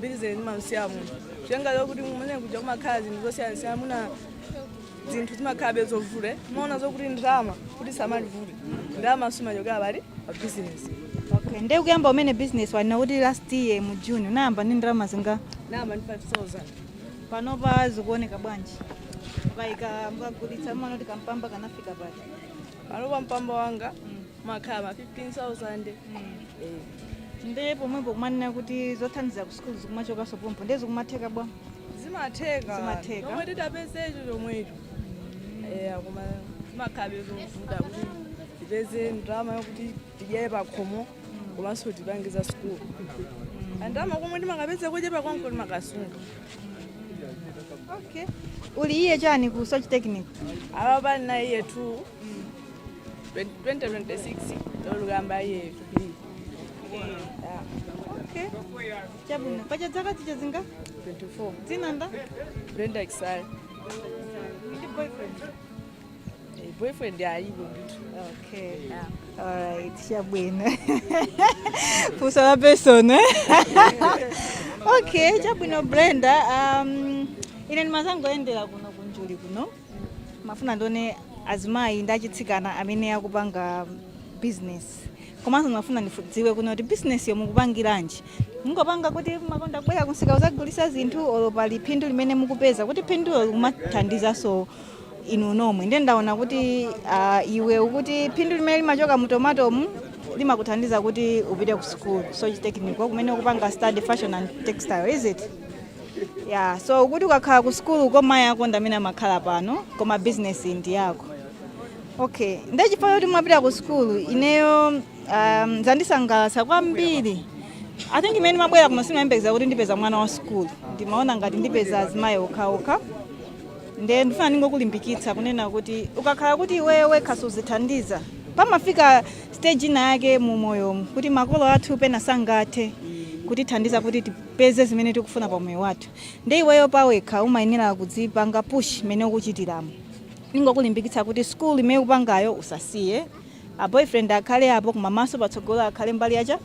bizinesi imamsiya munthu kutengera zokuti kumene kuja kumakhala zinthu zosiyanasiyana mwina zinthu zimakhalabe zovulira timaona zokuti ndalama kuti samalivulira ndalama zimachokera pali pa bizinesi okay nde kuyamba umene business wanena kuti last year mu june unayamba ndi ndalama zingati ndinayamba ndi 5000 panopa zikuoneka bwanji mukapika mukagulitsa mmaona kuti kampamba kanafika pati panopa mpamba wanga umakhala ma 15000 Eh. nde pomwepo kumanena kuti zothandiza ku sukulu zikumachokanso pompo nde zikumatheka bwanji zimatheka Zimatheka. chomwe titapezecho chomwecho eya koma zimakhalabe zovuta kuti tipeze ndalama yokuti tidyere pakhomo komanso tipange za sukulu kandalama komwe timakapeza kochepa konko timakasunga okay uli year chani ku soche technical apapa ndili year 2 2026 ndikuyamba year 2 okay chabwino paja zaka uti zingati 24 dzina ndani brenda kisale ndi boyfriend Eh, boyfriend alipo ndithu okay alright chabwino funso la personal eh? okay chabwino brenda um, ine ndimazangoyendera kuno ku njuli kuno ndimafuna ndione azimayi ndi atsikana amene akupanga business komanso ndimafuna ndidziwe kunena kuti business yo mukupangiranji mukungopanga kuti mumakonda kubwera kumsika kuzagulisa zinthu olo pali phindu limene mukupeza kuti phindulo likumathandizanso inu nomwe ndiye ndaona kuti ah, iwe ukuti phindu limene limachoka mu tomatomu limakuthandiza kuti upite ku school soche technical kumene ukupanga study fashion and textile is it ya so ukuti ukakhala ku sukulu uko mayi ako ndi amene amakhala pano koma bizinesi ndi yako okay nde chifukwa choti umapita ku sukulu ineyo um, zandisangalatsa kwambiri i think mmene ndimabwera kuno sindimayembekeza kuti ndipeza mwana wa sukulu ndimaona ngati ndipeza azimayi okhaokha nde ndifuna ndingokulimbikitsa kunena kuti ukakhala kuti iweyo wekha sukudzithandiza pamafika stage ina yake mu moyomu kuti makolo athu pena sangathe kutithandiza kuti ti- tipeze zimene tikufuna pa moyo wathu nde iweyo pawekha umayenera kudzipanga push mmene ukuchitiramu ndingokulimbikitsa kuti school imene ukupangayo usasiye a boyfriend akhale apo koma maso patsogolo akhale mbali yake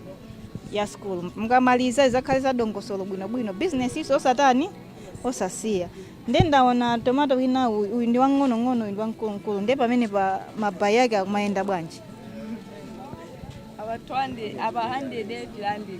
ya school mukamaliza izakhale za dongosolo bwinobwino business iso osatani osasiya nde ndaona tomato wina uyu uyu ndi wang'onong'ono uyu ndi wamkulumkulu nde pamene pa ma price ake akumayenda bwanji apa 200 apa 100 devilandile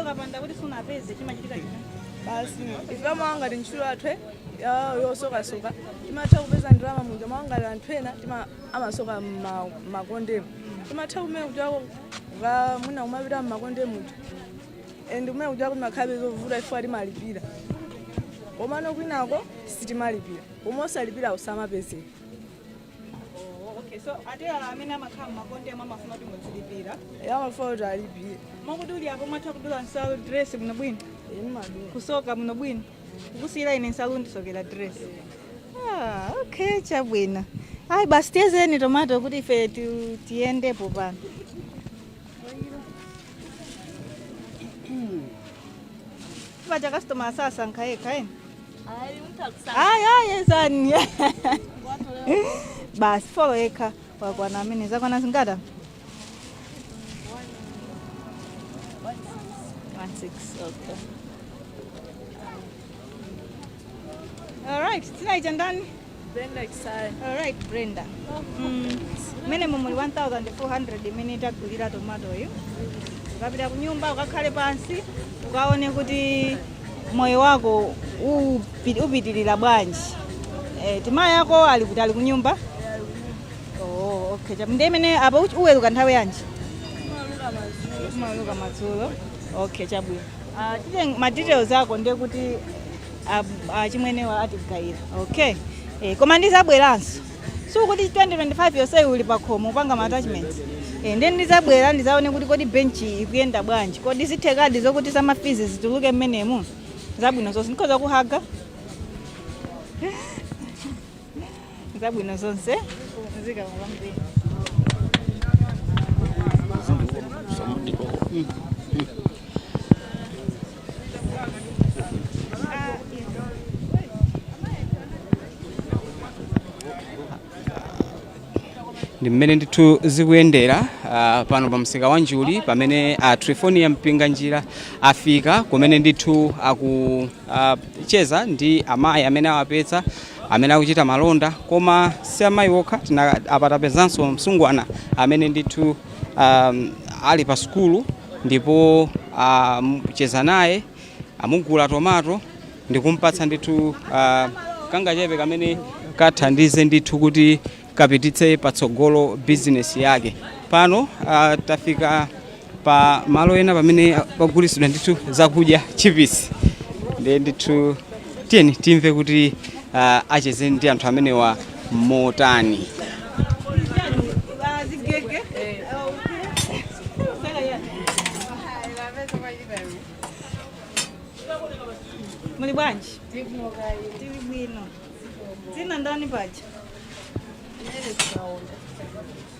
ukapanda kuti sunapeze chimachitika china basi ife mwa ngati ntchito yathu ya- yosokasoka timatha kupeza ndalama muja mwa ngati anthu ena tima- amasoka mma- mmakondemu timatha kumene kutchako mwina kumapita mmakondemu and kumene kutchako timakhalabe zovuta ifeyo timalipira komano kwinako sitimalipira koma osalipira samapezeka Oh, okay. So atelala amene amakhala mmakondemu amafuna kuti mudzilipira. Eya amafuna kuti alipire. Mwakuti muli apo mwatha kudula nsalu dress bwino bwino. Imadula. Kusoka bwino bwino. Kukusiyira ine nsalu ndisokera dress. Ah, okay, chabwino. Ayi basi tiyezeni tomato kuti ife tu- tiyendepo pano. Paja customer azasankha yekha eni. Ayi ayi ezani. Basi follow yekha wakwana amene zakwana zingata? 16 okay. All right, tonight and done. Brenda Chisaya. All right, Brenda. Mm, mene momuli 1400 imene tagulira tomatoyo ukapita kunyumba ukakhale pansi ukaone kuti moyo wako upi- upitilira bwanji eh, timayi ako ali kuti ali kunyumba oh, okay. Cham- ndi imene apa uch- uweruka nthawi yanji umaweruka madzulo okay chabwino uh, ma details ako ndiye kuti achimwenewa atigayire okay eh, koma ndizabweranso sikuti 2025 yonseyi uli pakhomo upanga maatachments eh, ndiye ndizabwera ndizaone kuti kodi benchi ikuyenda bwanji kodi zithekadi zokuti zamafizi zituluke mmenemu zabwino zonse ndikhoza kuhaga zabwino zonse zikomo kwambiri ndi mmene ndithu zikuyendera ah, pano pa msika wa njuli pamene a trifonia Mpinganjira afika kumene ndithu akucheza ndi amayi amene awapeza amene akuchita malonda koma si amayi okha tina- apa tapezanso msungwana amene ndithu um, ali pa sukulu ndipo acheza um, naye amugula tomato ndikumpatsa ndithu uh, kangachepe kamene kathandize ndithu kuti kapititse patsogolo bizinesi yake pano uh, tafika pa malo ena pamene pagulisidwa ndithu zakudya chipisi ndiye ndithu tiyeni timve kuti ah, acheze ndi anthu amenewa motani Muli bwanji? Tili bwino. Dzina ndani paja?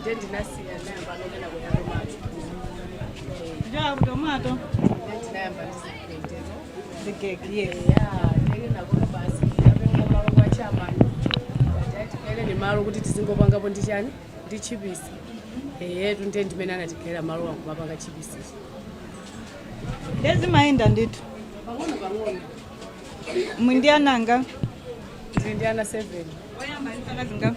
ndiye ndinasiya ndinayamba ndinayamba tomato kuchokera ku tomato ndiye ndinayamba ndizikupendera zigege yes tigaileni malo kuti tizingopangapo ndi chani ndi chipisi eyetu ndiye ndimene anatigaira malo nkumapanga chipisi ndiye zimayenda ndithu pang'ono pang'ono muli ndi ana angati ndili ndi ana 7 oyamba ndi zaka zingati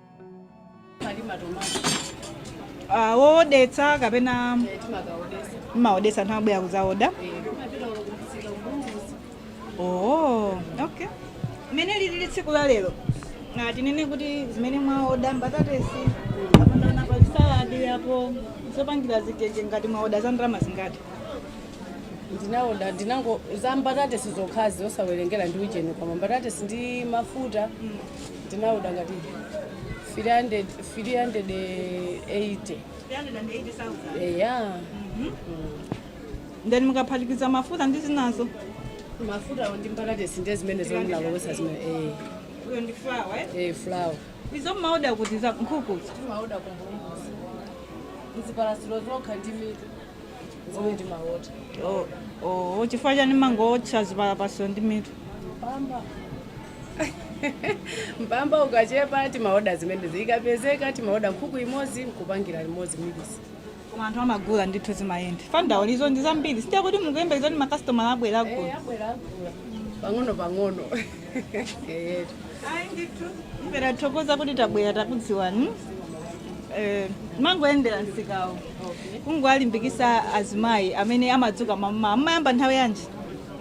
Ah, wowodetsa kapena mumaodetsa anthu amabwera kudzaoda oh okay mmene lilili tsiku la lero na tinene kuti zimene mwaoda mbatatesi kapena pa saladi apo zopangira zigege ngati mwaoda za ndalama zingati ndinaoda ndinango za mbatatesi zokhazi osawerengera ndi ujeni koma mbatatesi ndi mafuta Ndinaoda ngati 300 380. 380,000. Eya. Ndiye mukaphatikiza mafuta ndi zinazo? Mafuta ndi mbatatesi ndiye zimene zomwe ndalowetsa zimene eh Uyo ndi flour, eh? eh flour. Izo mmaoda kuti za nkhukuzo. Timaoda kumbuluzi. Ndi zipalapasiro zokha ndi mitu. Zimene timaoda. Oh, oh, chifukwa chani mumangootcha zipalapasiro ndi mitu. Mpamba. mpamba ukachepa timaoda zimenezi zikapezeka timaoda nkhuku imodzi nkupangira limodzi mix koma anthu amagula ndithu zimayenda fanta ndi izo ndi zambiri ndiye kuti mukuyembekeza kuti makasitomala abwera agula Eh, abwera agula pang'ono pang'ono Eh, ayi ndithu ife tathokoza kuti tabwera takudziwani Eh, timangoyendera msikawo kungowalimbikitsa azimayi amene amadzuka mmamawa mumayamba nthawi yanji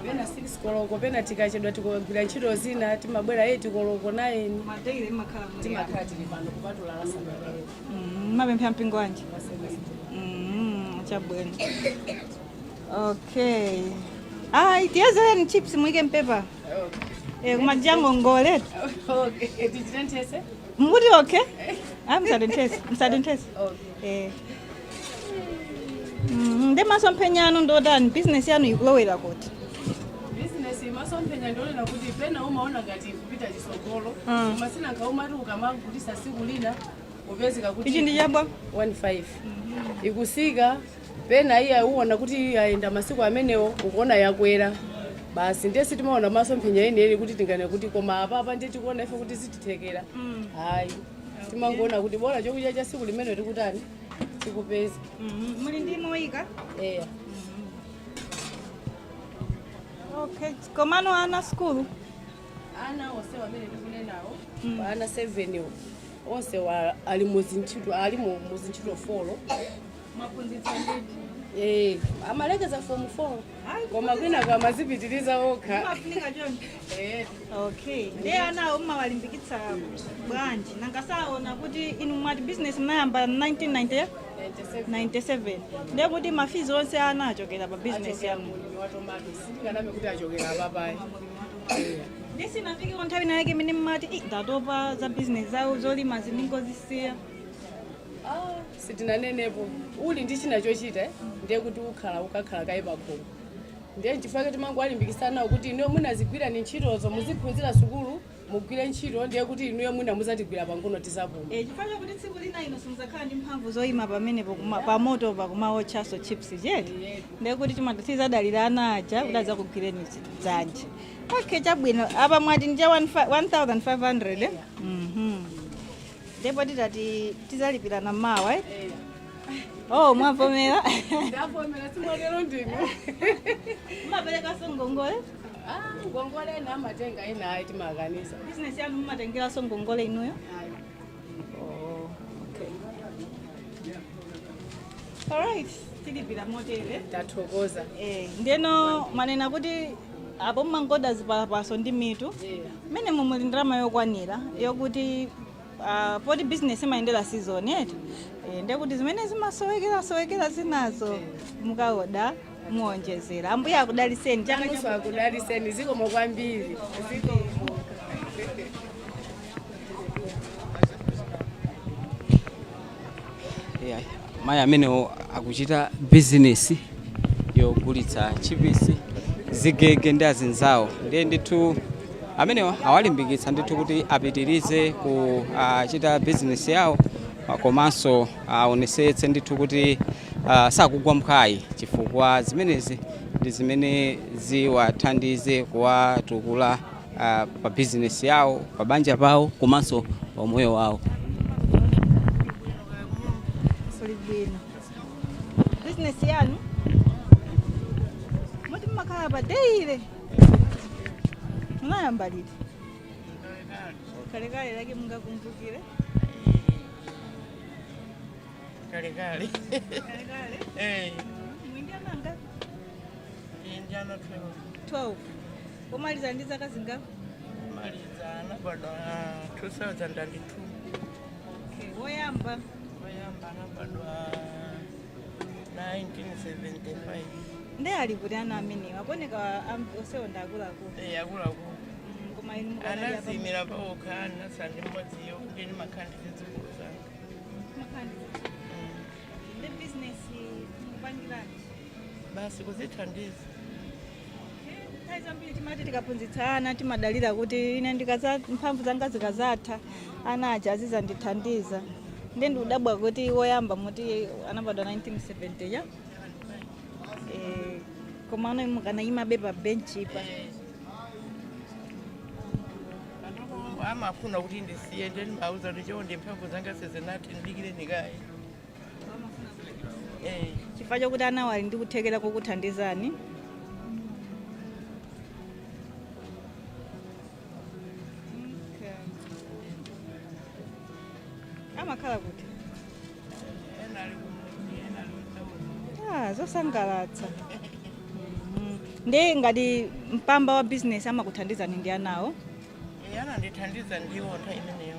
pena 6 koloko pena tikachedwa tikagwira ntchito zina timabwera 8 koloko 9 ma daily mumakhala muli timakhala tili pano kupatula la Sabata mumapemphera mpingo wanji Mm, chabwino okay ayi tiyezeleni chips muike mpepa Eh, kumajango mangoletu okay tichitenthetse mukuti okay ayi musatenthetse musatenthetse okay Eh. Mhm, Ndiye masomphenya anu ndi otani? Business yanu ikulowera kuti? bizinesi imasomphenya ndimaonera kuti pena umaona ngati kupita chitsogolo Mm. koma sinanga umati ukamagulitsa tsiku lina upezeka kuti Ichi ndi cha bwa? 15 ikutsika pena iya uona kuti yayenda masiku amenewo ukuona yakwera basi ndiye sitimaona masomphenya enieni kuti tinganene kuti koma apapa ndiye tikuona ife kuti zitithekera hayi timangoona kuti bora chokudya cha siku limenelo tikutani tikupeza Mhm. muli ndi moyo eya okay komano ana skulu ana onse amene tikunenawo apa ana 7 wo onse wa- ali muzintchito ali mu- muzintchito folo mwaphunzitsa ndithu Eh, amalekeza form 4 koma kwinako amadzipitiriza okha mafunika choncho Eh, okay ndiye anawo mmawalimbikitsa bwanji nanga saona kuti inu mwati business mnayamba 1997 97 ndiye kuti mafizi onse ana achokera pa business achokera yanu mulimi wa tomato sindikanabe kuti achokera apapa ayi ndiye sinafikeko nthawi nayake imene mmati "Ih, ndatopa za business zawo zolima zindingozisiya sitinanenepo uli ndi china chochita eh, ndiye kuti ukhala ukakhala kaye pakhomo ndiye nchifukwa timangowalimbikisa anawo kuti inuyo mwina zigwirani ntchitozo muziphunzira sukulu mugwire ntchito ndiye kuti inuyo mwina muzatigwira pang'ono tizapuma Eh, chifukwa chakuti tsiku lina inu simuzakhala ndi mphamvu zoyima pamenepo kuma- pamoto pakumawotchaso chips chete ndiye kuti timati tizadalira ana aja kuti adzakugwireni dzanja okay chabwino apa mwati ndi cha 1500 eh? Mhm. ndipo titati tizalipirana mawa eh? oh mwavomera ndavomera simwatero nde inu mumaperekanso ngongole Ah, ngongole ena amatenga ena ayi timakanisa bizinesi yanu mumatengeranso ngongole inuyo Ayi. oh, okay. alright tilipira motere tathokoza eh, ndeno mwanena kuti apo mumangooda zipalapaso ndi mitu mmenemo muli ndalama yokwanira yokuti ah, poti bizinesi imayendera season eti Eh, ndiye kuti zimene zimasowekerasowekera zinazo mukaooda muonjezera ambuye akudaliseni chaka Yesu chomwe akudaliseni zikomo kwambiri Yeah, mayi amenewo akuchita bizinesi yogulitsa chipisi zigege ndi azinzawo ndiye ndithu amenewo awalimbikitsa ndithu kuti apitirize kuchita bizinesi yawo ah, komanso aonesetse ndithu kuti ah, sakugwa mphwayi chifukwa zimenezi ndi zimene ziwathandize kuwatukula uh, pa bizinesi yawo, pa banja pawo komanso pa umoyo wawo. zolibwino bizinesi yanu mwati mumakhala pa deyile munayamba liti kalekale lake mungakumbukire kalekale kalekale eh mwinjana ngapi injana 12 12 Womaliza ndi zaka zingati? Womaliza anabadwa 2002. Okay. Woyamba? Woyamba anabadwa 1975. Ndiye ali kuti ana amenewa akuoneka onsewo ndi akuluakulu. Eh, akuluakulu. Mm, koma inu anadziimira paokha ndinatsala ndi mmodzi yekha ndimakhala ndi zidzukulu zanga. Mmakhala ndi. Mm. Ndiye business mukupangiranji? basi kuzithandiza nthawi zambiri timati tikaphunzitsa ana timadalira kuti ine ndikadza mphamvu zanga zikadzatha ana aja azidzandithandiza ndiye ndikudabwa kuti woyamba mukuti anabadwa 1970 ya Eh, koma ano mukanayimabe pa benchipa amafuna kuti ndisiye nde ndimawauza kuti chonde mphamvu zanga sizinathe ndidikireni kaye chifukwa chokuti anawo ali ndi kuthekera kokuthandizani amakhala kuti Ah, zosangalatsa Mhm. ndiye ngati mpamba wa bizinesi amakuthandizani ndi anawo anandithandiza ndiwo nthawi imeneyo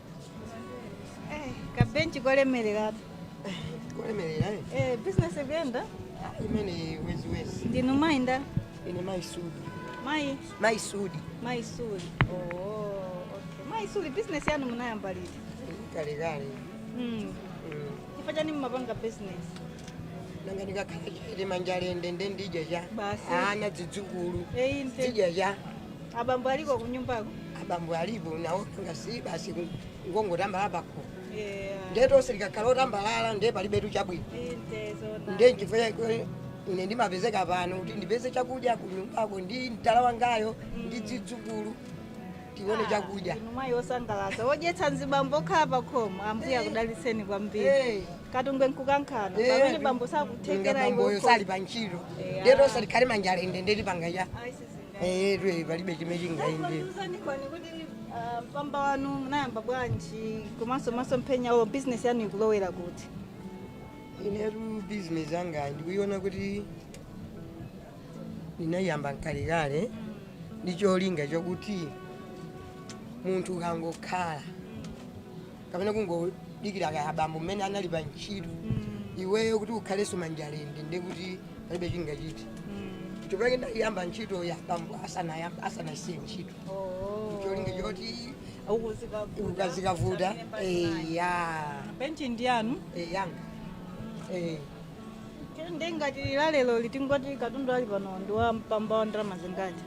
Eh, kabenchi kolemereratu kolemerera eh? eh, business ikuyenda Ah, imeneyo eti ndinu mayi ndani ine mayi suli mayi mayi suli mayi suli oh, okay. mayi suli business yanu munayamba liti kalekale mm. chifukwa chani mmapanga business nanga ndikakhala chete manja lende nde ndidya cha Basi. ana zidzukulu eyi nde zidya cha Abambo aliko kunyumbako? abambo alipo nawonso si basi ngongotambalala pakho Yeah. nde tonse tikakhala otambalala nde palibetu chabwino Inde zoona. nde nchifukwa chake ine ndimapezeka pano kuti ndipeze chakudya kunyumbako ndi mdala wangayo ndi zidzukulu tione chakudya Inu mayi osangalatsa. Wodyetsa mzibambo okhala pa khomo. Ambuye akudalitseni kwambiri. Eh. Katungwe nkukankhana. Eh, Pamene bambo sakuthekera iwo. bamboyo sali pa ntchito Yeah. nde tonse tikhale manja lende nde tipanga cha Ayi sisi. eyetu eyi palibe chimene chingayende Tiuzeni kaye kuti ah, mpamba wanu munayamba bwanji komanso masomphenya a business yanu ikulowera kuti inetu bizinesi yangayi ndikuiona kuti ndinayiyamba mkalekale ndi cholinga chakuti munthu ukangokhala kapena kungodikira kaya abambo mmene anali pa ntchito iweyo kuti ukhalenso manja lende ndiye kuti palibe chingachitike chifukwa chake ndayamba ntchito ya abambo asanayam- asanasiye ntchito cholinga choti ukazikavuta eya benchi ndi yanu ya yanga eh. nde ngati la lero litingoti katundu ali pano ndi wa mpamba wa ndalama zingati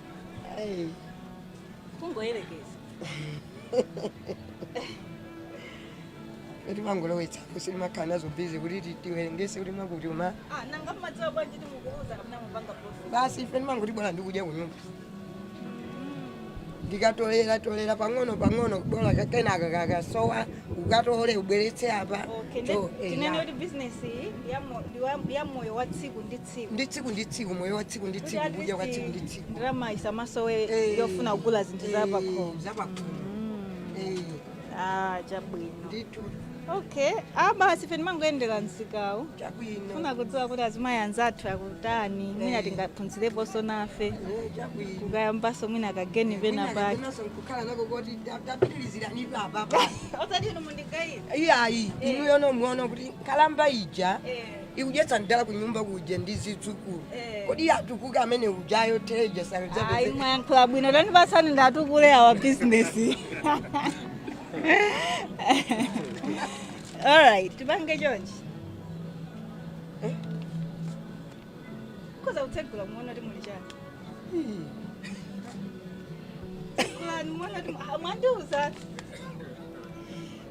Ai, kungoyerekeza eti mangolowetsapo simakhala nazo bizi kuti ti- tiwerengese kuti mwakuti uma Ah, nanga mmadziwa bwanji kuti mukuluza kapena mupanga profit basi ife ndimangoti bola ndikudya kunyumba ndikatolera tolera pang'ono pang'ono bola ka- kenaka kakasowa ukatole ubweretse apa okay To- eh, tinene ya. kuti business iyi ndi ya mo- ndi wa- ndi ya moyo wa tsiku ndi tsiku ndi tsiku ndi tsiku moyo wa tsiku ndi tsiku kudya kwa tsiku ndi tsiku ndalama isamasowe Eh, yofuna kugula zinthu eh, za pakhomo za pakhomo Eh, ah chabwino ndithu okay ah basi ife ndimangoyendera msikawu chabwino funa kudziwa kuti azimayi anzathu akutani mwina tingaphunzireponso nafe Eh, chabwino kukayambanso mwina kageni pena pake Mwinazo nkukhala nako kuti ta- tapitirizirani ife apapa osati inu mundigayira iyayi inuyo nomwe muona kuti nkalamba ija eh ikudyetsa mdala kunyumba kuja ndi zidzukulu Eh. kodi iye atukuke amene ujayo teja ayi sanadzapeze mwayankhula bwino tandipatsani ndatukule awa bizinesi alright tipange chonchi Eh? mukhoza kutsegula muona kuti muli chani tsegulani muona kuti mwandiuza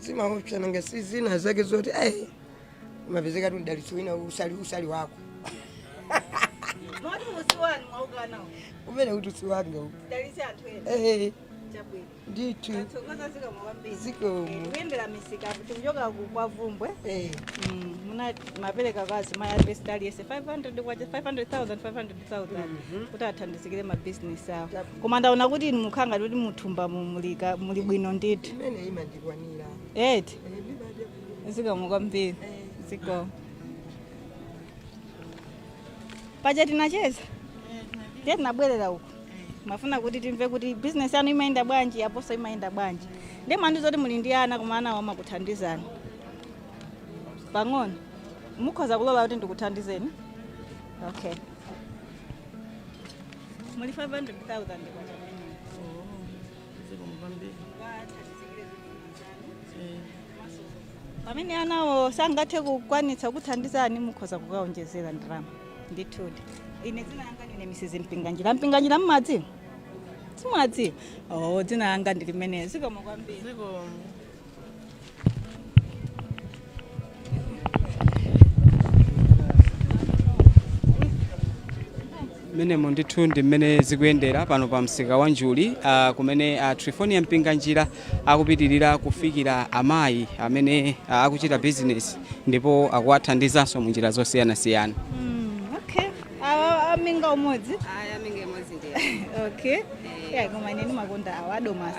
zimaopsa nanga si zina zake zoti ai mapezeka ti mdalitso wina usali usali wako moti musiwani mwaukanawo umene kuti usiwanga ukadalitse anthu ena Eh, chabwino ndithu tathokoza zikomo kwambiri zikomo kuyendera misika tikuchoka ku kwa vumbwe Eh, Mm, ndimapereka kwa azimayi aliyense 500 kwacha 500000 500000 kuti athandizikire mabizinesi awo koma ndaona kuti inu mukhala ngati kuti muthumba mu- muli ka- muli bwino ndithu imene imandikwanira eti zikomo kwambiri zikomo paja tinacheza ndiye tinabwerera uku timafuna kuti timve kuti bizinesi yanu imayenda bwanji yaponso imayenda bwanji ndiye mwandiuza kuti muli ndi ana koma anawo amakuthandizani pang'ono mukhoza kulola kuti ndikuthandizeni okay muli 500,000 kwacha kuti zikumupambira muthandizikire zinthu zanu pamene anawo sangathe kukwanitsa kukuthandizani mukhoza kukaonjezera ndalama ndithudi ine dzina langa ndine Mrs. Mpinganjira Mpinganjira mmadziwa simmadziwa o dzina langa ndi limenelo zikomo kwambiri zikomo mmenemo ndithu ndi mmene zikuyendera pano pa msika wa njuli ah, kumene ah, trifonia mpinganjira akupitirira kufikira amayi amene ah, akuchita bizinesi ndipo akuwathandizanso mu njira zosiyanasiyana okay awa aminga umodzi okay yeah koma ine ndimakonda awa adomasi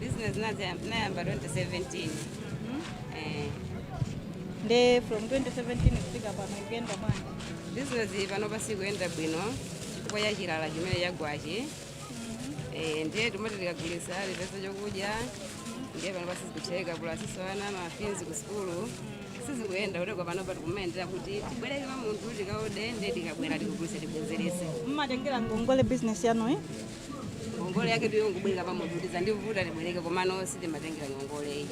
Business nazi- nayamba 2017. Eh, nde from 2017 kufika pano ikuyenda bwanji business iyi panopa sikuyenda bwino chifukwa cha chilala chimene chagwachi Eh, ndiye timati tikagulisa tipeza chokudya ndiye panopa sizikutheka pulasinso ana mafizi ku sukulu sizikuyenda kuteko panopa tikumayendera kuti tibwereke pa munthu tikaode ndiye tikabwera tikugulisa tibwenzerese mmatengera ngongole business yanu eh? ngongole yake ndi yongobwereka pa munthu kuti zandivuta tibwereke komano sitimatengera ngongoleyi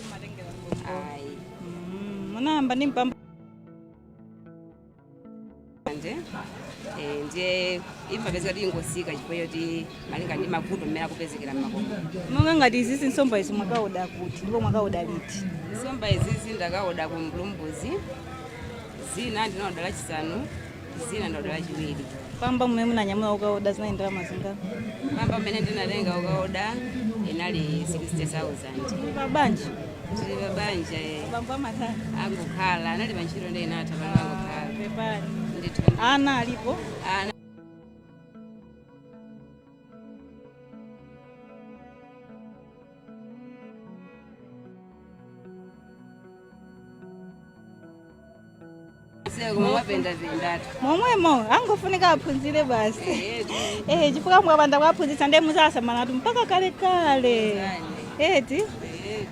ayi Mm, munayamba ndi mpamba manje eh, ndiye imapezeka kuti ingosika chifukwa choti malinga ndi mavuto mmene akupezekera mmakomo monga ngati izizi nsomba izi mwakaoda kuti ndipo mwakaoda liti nsomba izizi ndakaoda ku mbulumbuzi zina ndinaoda lachisanu zina ndaoda lachiwiri mpamba mmene munanyamula ukaoda zinali ndalama zingati mpamba mmene ndinatenga ukaoda inali 60000 pa banja tili pa banja eh. bambo amatani angokhala anali pa ntchito ndiye inatha pano angokhala pepani ndithu ana alipo ana momwemo angofunika aphunzire basi eh chifukwa mwapanda kuwaphunzitsa ndiye muzasamalatu mpaka kale kale eti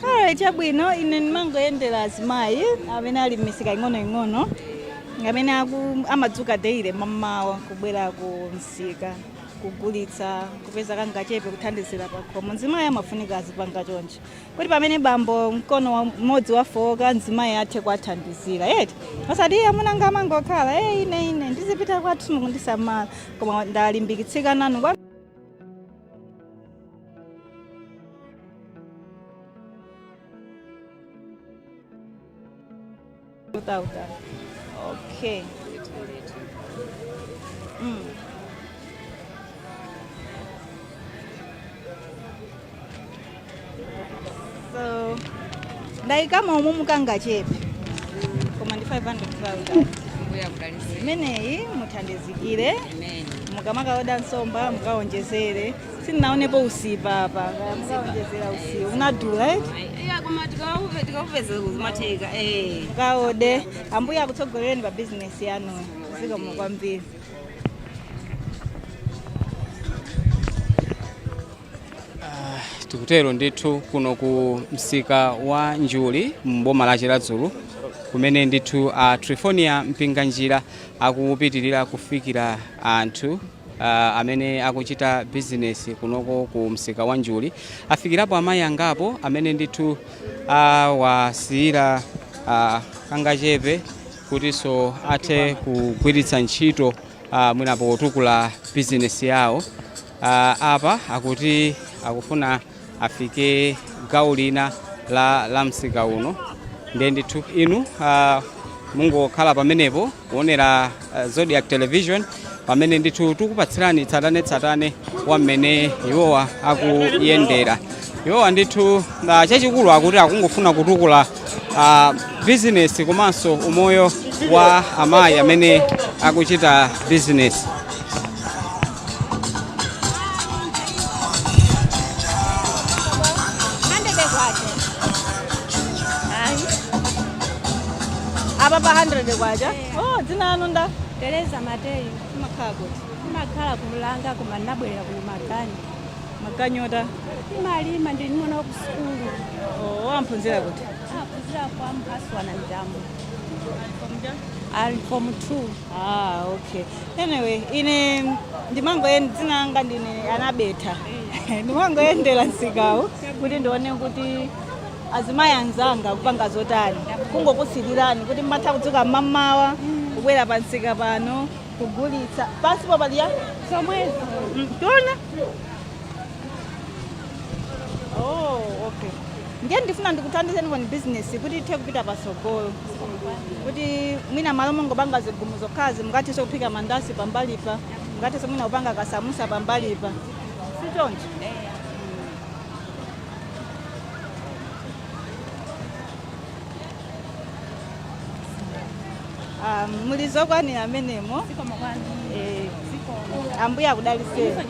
alright chabwino ine ndimangoyendera azimayi amene ali m'misika ing'onoing'ono amene aku- amadzuka daily mamawa kubwera ku msika kugulitsa kupeza kangachepe kuthandizira pakhomo mzimayi amafunika azipanga choncho kuti pamene bambo mkono wa- mmodzi wafowoka mzimayi athe kuwathandizira eti osati iye amuna anga amangokhala e ine ine ndizipita kwathu simukundisamala koma ndalimbikitsika nanu kwa 2000 okay mm. so ndayikamo umumu kangachepe koma ndi 500000 ambuye akudaliseni imeneyi muthandizikire amen mukamakaoda nsomba mukawonjezere sindinaonepo usipa apa kaya mukaonjezera usipa unadula eti iya koma tikaone tikaupeza zimatheka eh kaode ambuye akutsogolereni pa bizinesi yanuyo zikomo kwambiri tikutero ndithu kuno ku msika wa njuli mboma la chiradzulu kumene ndithu a trifonia mpinganjira akupitirira kufikira anthu uh, amene akuchita bizinesi kunoko ku msika wa Njuli afikirapo amayi angapo amene ndithu awasiyira uh, uh, kangachepe kutinso athe kugwiritsa ntchito uh, mwina potukula bizinesi yawo uh, apa akuti akufuna afike gawo lina la, la msika uno ndiye ndithu inu uh, mungokhala pamenepo kuonera uh, zodiac television pamene ndithu tikukupatsirani tsatanetsatane wa mmene iwowa akuyendera iwowa ndithu uh, chachikulu akuti akungofuna kutukula uh, bizinesi komanso umoyo wa amayi amene akuchita bizinesi apa pa 100 kwacha oh dzina lanu nda tereza mateyu mumakhala kuti ndimakhala ku mulanga koma ndinabwerera kuno magani maganyota timalima ndili ndi mwana wa ku sukulu oh amaphunzira kuti aphunzira kwa mphaswana mtambo ali form 2 ah okay Anyway, ine ndimangoyenda dzina langa ndine anabetha ndimangoyendera msikawu kuti ndione kuti azimayi anzanga akupanga zotani kungokusilirani kuti mmatha kudzuka mmamawa kubwera pa msika pano kugulitsa pansipo paliya zomwezo tiona Oh, okay. Ndiye ndifuna ndikuthandizenikoni bizinesi kuti ithe kupita patsogolo. Kuti mwina malo mongopanga zigumu zokhazi mungathenso kuphika mandasi pambalipa. Mungathenso mwina kupanga kasamusa pambalipa. Si choncho? Ah, muli zokwanira mmenemo Eh, ambuye akudaliseni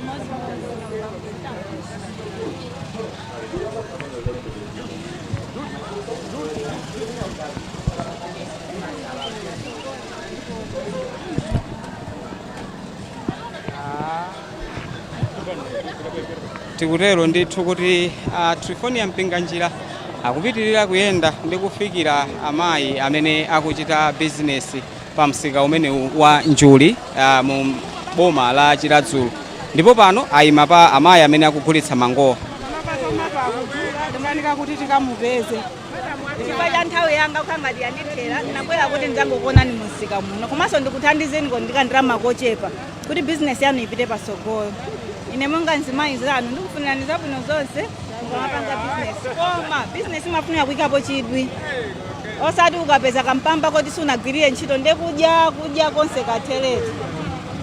tikutero ndithu kuti a trifonia mpinganjira akupitirira kuyenda ndi kufikira amayi amene akuchita bizinesi pa msika umenewu wa njuli ah, mu boma la chiradzulu ndipo pano ayima pa amayi amene akugulitsa mangowa timanika kuti tikamupeze chifukwa cha nthawi yanga kukhangati yandithera ndinabwera kuti ndidzangokuonani mu msika muno komanso ndikuthandizeniko ndi kandalama kochepa kuti bizinesi yanu ipite patsogolo ine monga mzimayi nzanu ndikufunirani zabwino zonse mukamapanga bizinesi koma bizinesi imafunika kuyikapo chidwi osati ukapeza kampamba koti sunagwirire ntchito nde kudya kudya konse katheretu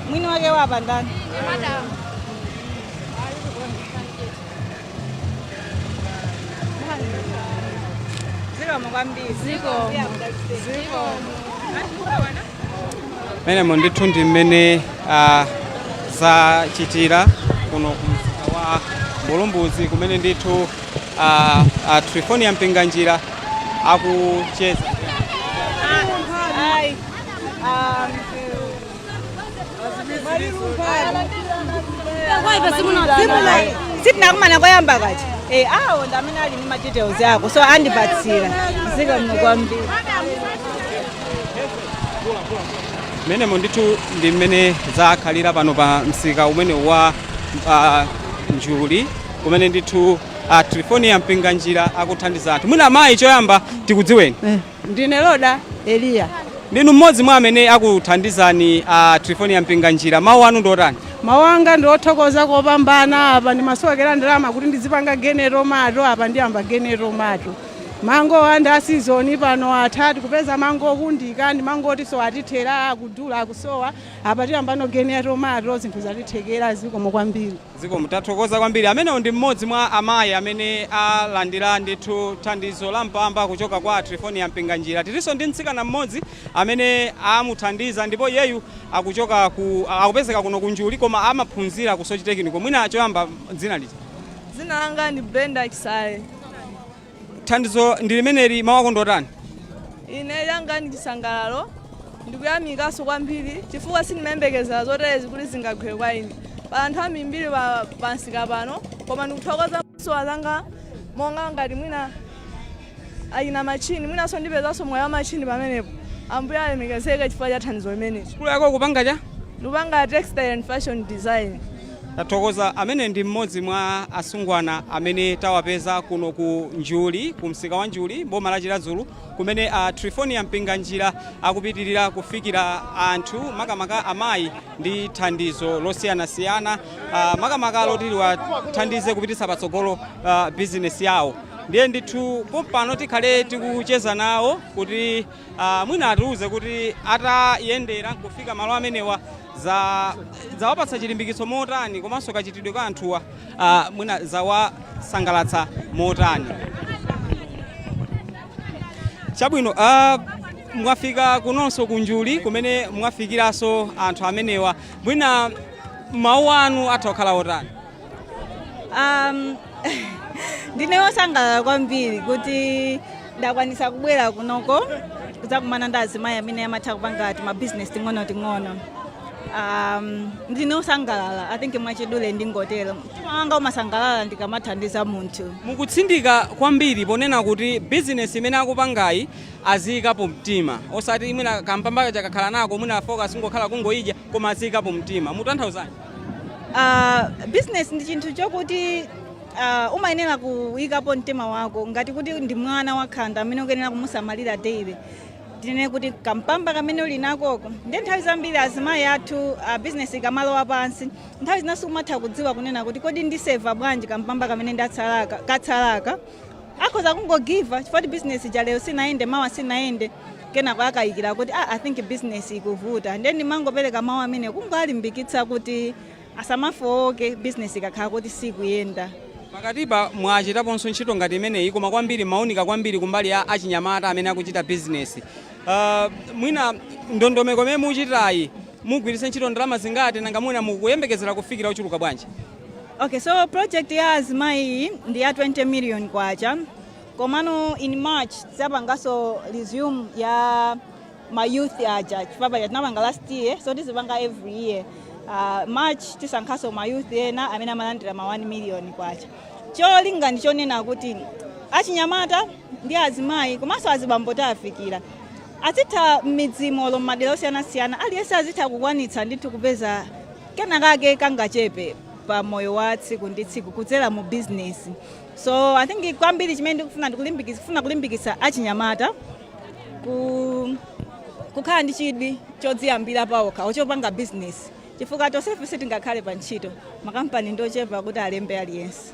mwini wake wapa ndani zikomo kwambiri Zikomo. Yeah, that's it. Zikomo. mmenemo ndithu ndi mmene ah, zachitira kuno ku msika wa mbulumbuzi kumene ndithu ah, ah, trifonia mpinganjira akucheza Ai. Ah, sitinakumana koyamba kaja Eh, awo ndi amene ali ndi ma details ako so andipatsira zikomo kwambiri mmenemo ndithu ndi mmene zakhalira pano pa msika umene wa ah, njuli kumene ndithu ah, trifonia mpinganjira akuthandiza anthu mwina amayi choyamba tikudziweni Eh, ndine loda eliya ndinu mmodzi mwa amene akuthandizani ah, trifonia mpinganjira mawu anu ndiotani mawu anga ndi othokoza kopambana apa ndimasowekera ndalama kuti ndizipanga geni ya tomato apa ndiyamba geni ya tomato Mangowa ndi a season pano atha tikupeza mango okundika ndi mango otiso atithera akudula akusowa apa tiyambano geni ya tomato zinthu zatithekera zikomo kwambiri. Zikomo tathokoza kwambiri. Amenewo ndi mmodzi mwa amayi amene alandira ndithu thandizo la mpamba kuchoka kwa a Triephornia Mpinganjira. Tilinso ndi mtsikana mmodzi amene amuthandiza ndipo iyeyu akuchoka ku a- akupezeka kuno ku Njuli koma amaphunzira ku Soche Technical. Mwina choyamba dzina liti? Dzina langa ndi Brenda Chisale. thandizo ndi limeneli mawu ako ndiotani ine yanga ndi chisangalalo ndikuyamikaso kwambiri chifukwa sindimayembekezera zoterezi kuti zingagwere kwa ine pa anthu ambirimbiri pa msika pano koma ndikuthokoza zosowa zanga monga ngati mwina achina machini mwinanso ndipezanso mwayi wa machini pamenepo ambuye alemekezeke chifukwa cha thandizo limeneli sukulu yako ukupanga chani ndikupanga textile and fashion design Tathokoza. Amene ndi mmodzi mwa asungwana amene tawapeza kuno ku Njuli, ku msika wa Njuli m'boma la Chiradzulu kumene a Triephornia Mpinganjira akupitilira kufikira anthu makamaka amayi ndi thandizo losiyanasiyana makamaka loti liwathandize kupititsa patsogolo bizinesi yawo. Ndiye ndithu pompano tikhale tikucheza nawo kuti. Uh, mwina atiuze kuti atayendera kufika malo amenewa zawapatsa chilimbikitso motani komanso kachitidwe ka anthuwa uh, mwina zawasangalatsa motani chabwino uh, mwafika kunonso ku Njuli kumene mwafikiranso anthu amenewa mwina mawu anu atha kukhala otani Um, ndine wosangalala kwambiri kuti ndakwanisa kubwera kunoko kudzakumana ndi azimayi amene amatha kupanga timabizinesi ting'onoting'ono um, ndine wosangalala i think mwachidule ndingotero mtima wanga umasangalala ndikamathandiza munthu mukutsindika kwambiri ponena kuti bizinesi imene akupangayi aziyikapo mtima osati mwina kampamba kakakhala nako mwina focus ingokhala kungoyidya koma aziyikapo mtima mutanthauzani uh, business ndi chinthu chokuti uh, umayenera kuyikapo mtima wako ngati kuti ndi mwana wakhanda amene ukuyenera kumusamalira daily tinene kuti kampamba kamene uli nakoko ndiye nthawi zambiri azimayi athu uh, business ikamalowa pansi nthawi zina sakumatha kudziwa kunena kuti kodi ndiseva bwanji kampamba kamene ndatsalaka katsalaka akhoza kungogiva up chifukwa choti business ija lero sinayende mawa sinayende kenako akaganiza kuti ah, i think business ikuvuta ndiye ndimangopereka mawu amene kungowalimbikitsa kuti asamafowoke business ikakhala kuti sikuyenda pakatipa mwachitaponso ntchito ngati imeneyi koma kwambiri maunika kwambiri kumbali ya achinyamata amene akuchita bizinesi uh, mwina ndondomeko imene muchitayi mugwiritse ntchito ndalama zingati nanga mwina mukuyembekezera kufikira ochuluka bwanji Okay, so project ya azimayi iyi ndi ya 20 million kwacha komano in march tidzapanganso resume ya ma youth aja chifukwa tinapanga last year so tizipanga every year uh, march tisankhanso ma youth ena amene amalandira ma 1 million kwacha cholinga ndi chonena kuti achinyamata ndi azimayi komanso azibambo tafikira azitha m'midzimo m'madera osiyanasiyana aliyense azitha kukwanitsa ndithu kupeza kenakake kangachepe pa moyo wa tsiku ndi tsiku kudzera mu bizinesi so i think kwambiri chimene ndikufuna kulimbikisa achinyamata kukhala ndi chidwi chodziyambira paokha ochopanga bizinesi chifukwa tonsefe sitingakhale pa ntchito makampani ndochepa kuti alembe aliyense